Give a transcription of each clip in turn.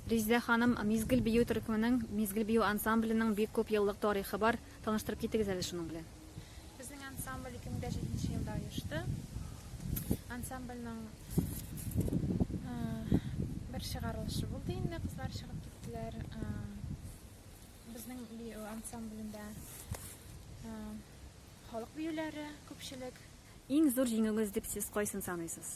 Резидә ханым, Мизгел бию төркеменең, Мизгел бию ансамбленең бик күп еллык тарихы бар. Таныштырып китегез әле шуның белән. Безнең ансамбль 2007 нче елда оешты. Ансамбльнең бер чыгарылышы булды инде, кызлар чыгып киттеләр. Безнең бию ансамблендә халык биюләре күпчелек. Иң зур җиңүегез дип сез кайсын саныйсыз?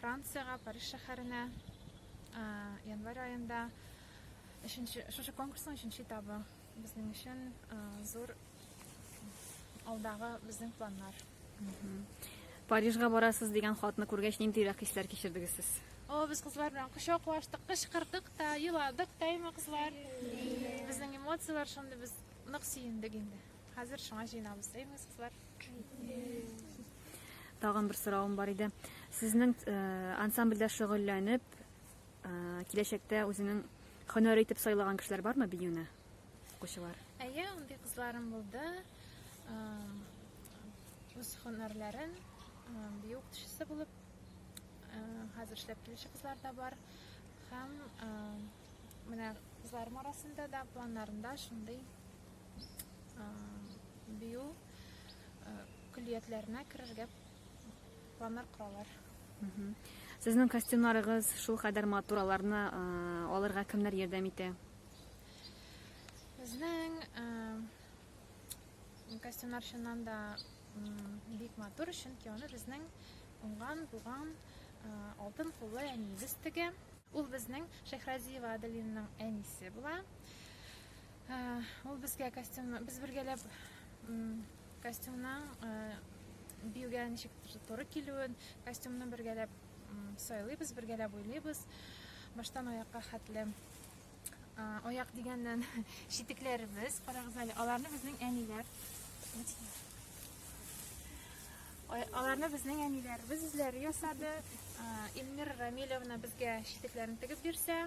Франциягә, Париж шәһәренә январь аенда өченче шушы конкурсның өченче этабы безнең өчен зур алдагы безнең планнар. Парижга барасыз дигән хатны күргәч, ниндирәк хисләр кичердегез сез? О, без кызлар белән кочаклаштык, кычкырдык та, еладык та, әйме кызлар? Безнең эмоцияләр шундый, без нык сөендек инде. Хәзер шуңа җыенабыз, әйбез кызлар. Тагын бер соравым бар иде. Сезнең э, ансамбльдә шөгыльләнеп, э, киләчәктә үзенең һөнәре итеп сайлаган кешеләр бармы биюне? Укучылар. Әйе, андый кызларым булды. Үз һөнәрләрен бию укытучысы булып хәзер эшләп килүче кызлар да бар. Һәм Менә кызларым арасында да планнарында шундый бию көллиятләренә керергә планнар коралар. Сезнең костюмнарыгыз шул кадәр матур, аларны алырга кемнәр ярдәм итә? Безнең костюмнар чыннан да бик матур, чөнки аны безнең уңган, булган алтын куллы әниебез тегә. Ул безнең Шәйхразиева Аделинның әнисе була. Ул безгә костюмны, без бергәләп костюмның биюгә ничек туры килүен, костюмны бергәләп сайлыйбыз, бергәләп уйлыйбыз. Баштан аякка хәтле. Аяк дигәннән читекләребез, карагыз әле, аларны безнең әниләр. Аларны безнең әниләребез үзләре ясады. Эльмир Рамилевна безгә читекләрен тегеп бирсә,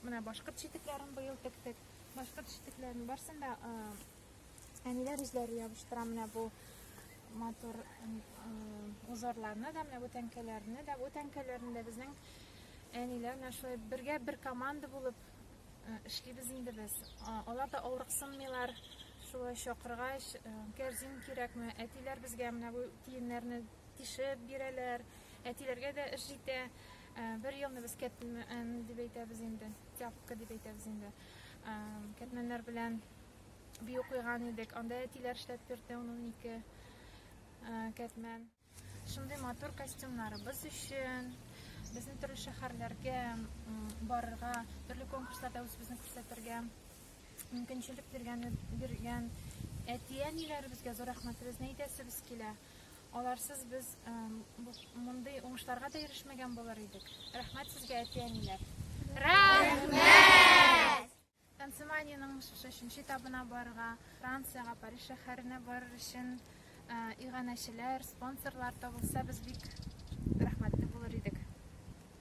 менә башкорт читекләрен быел тектек. Башкорт читекләрен барсын да Әниләр үзләре ябыштыра менә бу матур узорларны да, менә бу тәңкәләрне дә. Бу тәңкәләрне дә безнең әниләр менә шулай бергә бер команда булып эшлибез инде без. Алар да авырыксынмыйлар. Шулай чакыргач, кәрзин кирәкме? Әтиләр безгә менә бу тиеннәрне тишеп бирәләр. Әтиләргә дә эш җитә. Бер елны без кәтмән дип әйтәбез инде, тяпка дип әйтәбез инде. Кәтмәннәр белән би укыйган идек. Анда әтиләр эшләп бирде ун-унике кәтмән. Шундый матур костюмнарыбыз өчен безнең төрле шәһәрләргә барырга, төрле конкурсларда үзебезне күрсәтергә мөмкинчелек биргән биргән әти-әниләребезгә зур рәхмәтебезне әйтәсебез килә. Аларсыз без мондый уңышларга да ирешмәгән булыр идек. Рәхмәт сезгә, әти-әниләр. Рәхмәт! Танцеманиянең шешенче этабына барырга, Франциягә, Париж шәһәренә барыр өчен иганәчеләр, спонсорлар табылса, без бик рәхмәтле булыр идек.